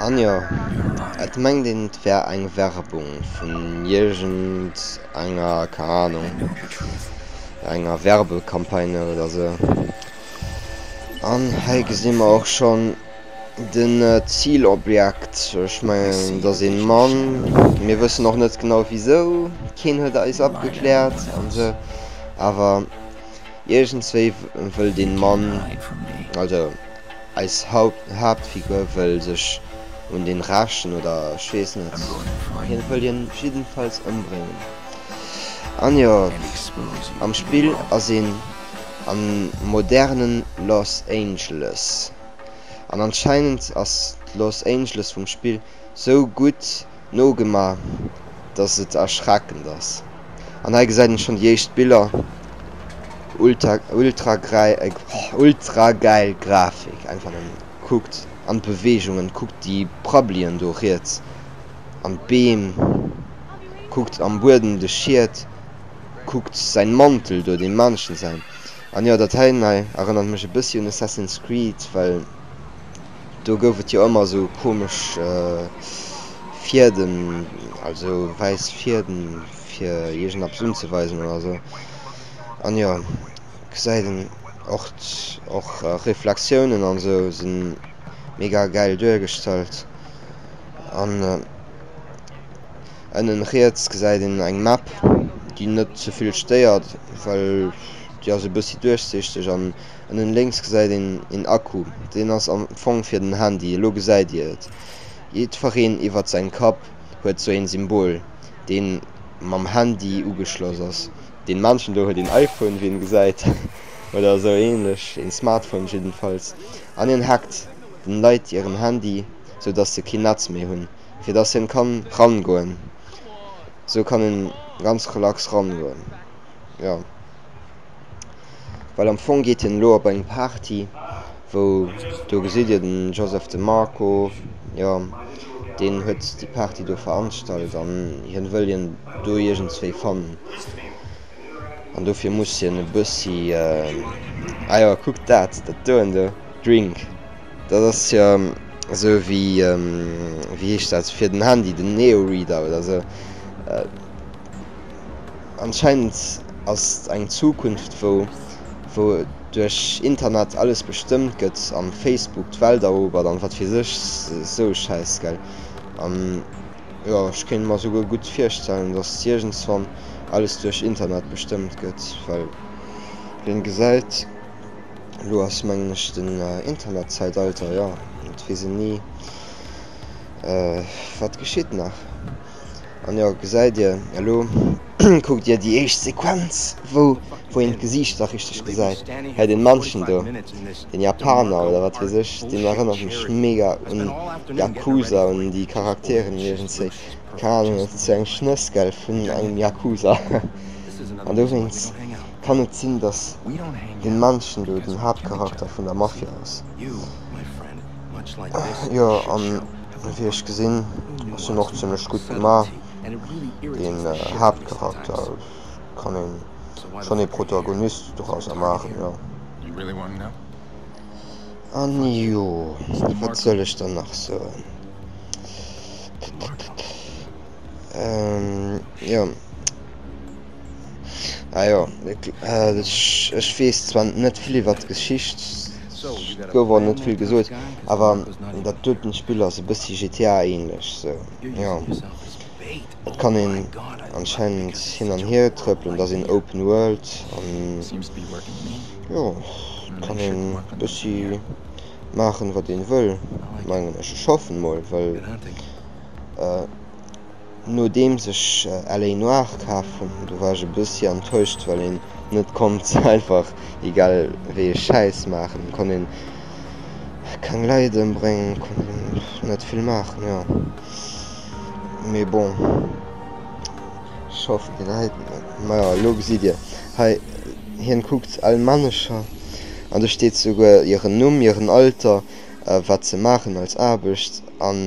An jo, et mengt een et wär eng Werbung vun iergend enger, keng Ahnung, enger Werbecampagne oder sou. An hei gesi mer och schonn de Zilobjekt, ech mengen et ass een Mann, mir wëssen och net genau wisou, keen huet eis opgekläert an sou, awer. Iergendswéi wëll den Mann, also eis Haaptfigur, wëll sech un den rächen, oder ech weess net, hien wëll hien jiddenfalls ëmbréngen. An jo, am Spill ass een am modernen Los Angeles, an anscheinend ass d'Los Angeles vum Spill sou gutt, Nogemaach, dass et erschreckend ass. An hei gesäit een schonn déi éischt Biller, ultragäil Grafik einfach nëmmen. Kuckt an d'Beweegungen, kuckt déi Prabbelien do riets an d'Beem, kuckt am Buedem de Schiet, kuckt säin Mantel do, deem Männchen säin. An jo, dat heien hei erënnert mech e bëssi un Assassin's Creed, well. do gouf et jo ëmmer esou komesch Fieden, also wäiss Fieden, fir iergendeppes unzeweisen oder esou. An jo, gesäit een och, och Reflexiounen an esou sinn mega gäil duergestallt. An ënnen riets gesäit een eng Map, déi net ze vill stéiert, well déi ass e bëssi duerchsichteg an Ënnen lénks gesäit een een Akku, deen ass am Fong fir den Handy, elo gesäit dir et. Jiddwereen iwwert säin Kapp huet sou een Symbol, deen mam Handy ugeschloss ass. Deen Männchen do huet een iPhone, wéi een gesäit, oder sou ähnlech, een Smartphone jiddenfalls, an een hackt den Leit hiren Handy, sou dass se keen Netz méi hunn, fir dass hien kann ran goen. Sou kann een ganz relax ran goen, jo. Well am Fong geet hien elo op eng Party, wou, do gesitt Dir den Joseph de Marco, jo, deen huet déi Party do veranstallt an hien wëll hien do iergendzwéi fannen. An dofir muss hien e bëssi, ah jo, kuckt dat, dat doen do, Drink, dat ass jo esou wéi, wéi heescht dat, fir den Handy, den Neo-Reader oder esou, Anscheinend ass et eng Zukunft wou wou duerch Internet alles bestëmmt gëtt an Facebook d'Welt erobert an wat weess ech sou Schäiss gell an jo ech kéint mer souguer gutt virstellen dass iergendswann alles duerch Internet bestëmmt gëtt well wien gesäit elo ass mengen ech den Internet Zäitalter jo et weess een ni wat geschitt nach. An jo, gesäit Dir, elo kuckt Dir déi éischt Sequenz, wou wou een d'Gesiicht nach richteg gesäit. Hei den Mannchen do, den Japaner oder wat weess ech, den erënnert mech mega un Yakuza, un déi Charakteren iergendzwéi, keng Ahnung, dat ass sou eng Schnësskel vun engem Yakuza. An dowéinst kann et sinn, dass den Mannchen do den Haaptcharakter vun der Mafia ass. Jo an. Wéi ech gesinn ass hien och zimmlech gutt gemaach. Deen Haaptcharakter kann een schonn ee Protagonist dorauser maachen jo. An jo wat soll ech der nach soen? Ppp jo. Ah jo, äh, ech, ech weess zwar net vill iwwer d'Geschicht, et gouf och net vill gesot, awer dat doten Spill ass e bëssi GTA ähnlech, so, jo. Et kann een anscheinend hin an hier trëppelen, et ass een Open World an jo, et kann een e bëssi maachen wat een wëll, mengen ech. Ech hoffen mol, well Nodeems ech LA Noir kaf hun, do war ech e bessi enttäuscht well een net konnt einfach egal wéi ee Schäiss maachen, konnt een keng Leit embréngen, konnt een net vill maachen jo. Mee bon ech hoffen deen hei, majo lo gesitt dir hei hien kuckt al Männecher an do steet souguer hiren Numm, hiren Alter, wat se maachen als Aarbecht an.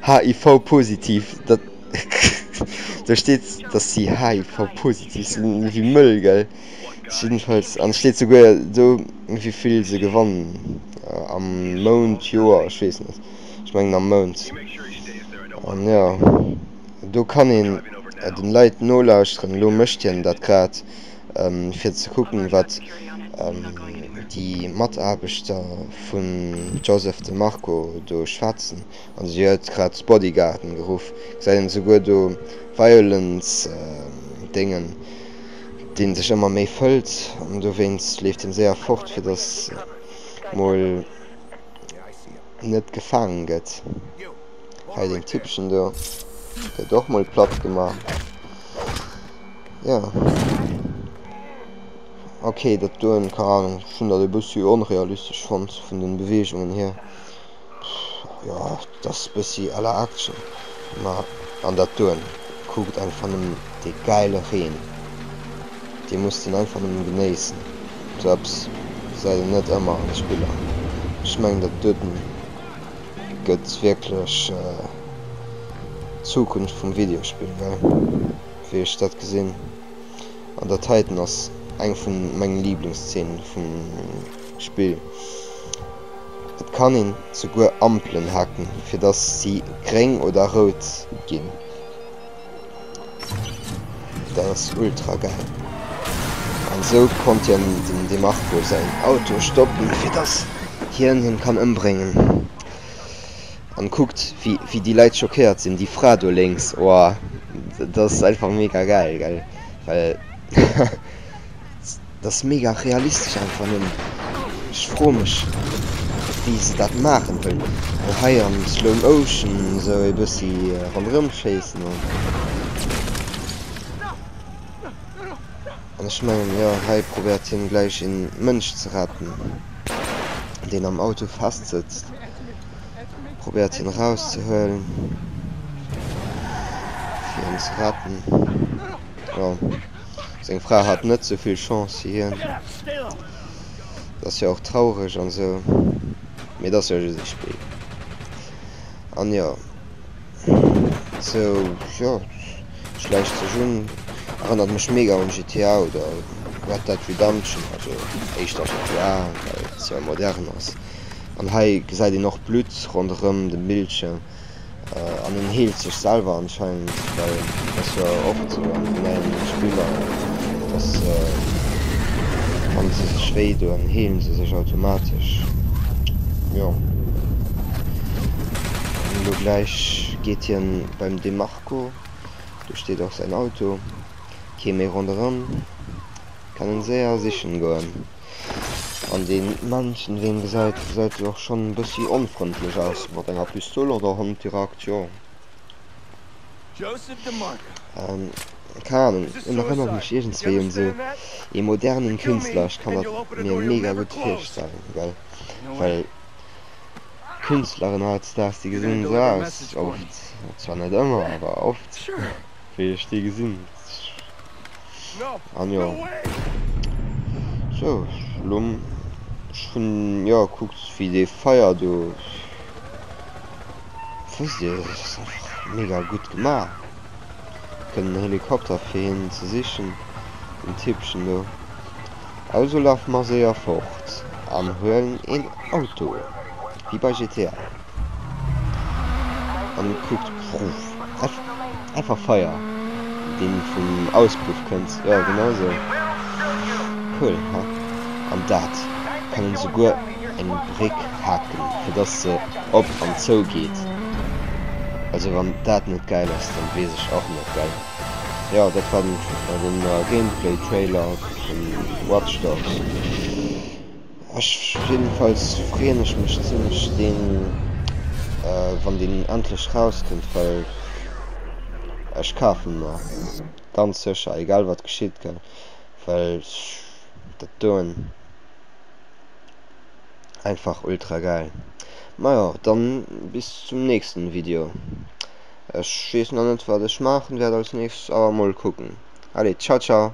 HIV-positiv, da steet dass si HIV-positiv sinn, wéi mëll, gell? Jiddefalls, an et steet souguer do wéi vill se gewannen am Mount, Joer, ech weess net, ech mengen am Mount. An jo, do kann een den Leit nolauschteren, elo mécht hien dat grad. fir ze kucken, wat déi Mataarbechter vum Joseph de Marco do schwätzen, an si huet grad d'Bodyguarden geruff, gesäit een esouguer do Violence Déngen, dee sech ëmmer méi fëllt, an dowéinst leeft hien séier fort, fir dass mol net gefaangen gëtt. Hei deen Typpchen do gëtt och mol platt gemaach. Ja. Ok, dat doen, keine Ahnung, ich hun dat e bëssi onrealistesch fand vun den Beweegungen hier. Ja, das ist bëssi à la Action. Ma an dat doen, kuckt einfach nëmmen de geile Reen. Dir musst den einfach nëmmen genéissen. So eppes gesäit een net ëmmer an de Spiller. Ech mengen dat doten gëtt wierklech d'Zukunft vum Videospill, gell? wéi ech dat gesin, an dat heiten ass eng vun mengen Lieblingsszenen vum Spill. Et kann een souguer Ampelen hacken fir dass sie gréng oder roud gin. Dat ass ultra geil. An sou konnt hien dem Demarco säin Auto stoppen fir dass hien hien kann ëmbréngen. An kuckt wéi déi Leit schockéiert sinn, déi Fra do lénks, oah dat ass einfach mega gäil gell, well dat ass mega realistesch einfach nëmmen, ech froe mech wéi se dat maachen, well se hei am slow motion esou e bëssi ronderëm schéissen an ech mengen jo hei probéiert hien gläich een Mënsch ze retten deen am Auto festsëtzt. Probéiert hien erauszehuelen, fir hien ze retten. Jo, seng Fra hat net sou vill Chance wéi hien. Dat ass jo och traureg an esou, mee dat ass jo just e Spill. An jo, esou, jo, schläicht sech un. Erënnert mech mega un GTA oder Red Dead Redemption, also éischter GTA, well et sou modern ass. An hei gesäit een och Blutt ronderëm de Bildschierm an en heelt sech selwer anscheinend, well et ass jo oft sou an den neien Spiller, dass wa se sech wéi doen, heelen se sech automatesch. Jo, an elo gläich geet hien beim Demarco, do steet och säin Auto, kee méi ronderëm, kann en séier sichen goen. An deen Männchen deen geseit geseit jo och schon en bessi onfrëndlech aus mat enger Pistol oder Hond dirakt jo. Ehm keng Ahnung en erënnert mech iergendswéi un sou ee modernen Künstler. Ech kann dat mir mega gudd virstellen gell well Künstleren hautstags déi gesinn sou aus oft, zwar net ëmmer awer oft wéi ech déi gesinn. An jo. So, Schlumm. Ech hunn, jo, kuckt wéi dee Feier do. Wësst Dir, dat ass einfach mega gutt gemaach. Kënnt en Helikopter fir hien ze sichen, den Typchen do. Also laf mer séier fort an huelen een Auto, wéi bei GTA. An et kuckt einfach Feier deen vum Auspuff kënnt. Jo genau esou cool he. An dat kann een esouguer eng Bréck haken fir dass se op an zou geet. Also wann dat net gäil ass dann weess ech och net gell. Jo dat war den Gameplay Trailer vun Watch Dogs. Ech jedenfalls freeën ech mech zimlech deen wann deen endlech rauskënnt well ech kafen mer ganz secher egal wat geschitt gell well ech dat doen einfach ultra geil. Majo dann bis zum nächsten Video. Ech wees nach net wat ech maachen wärt als nächstes awer mol kucken. Allez ciao ciao.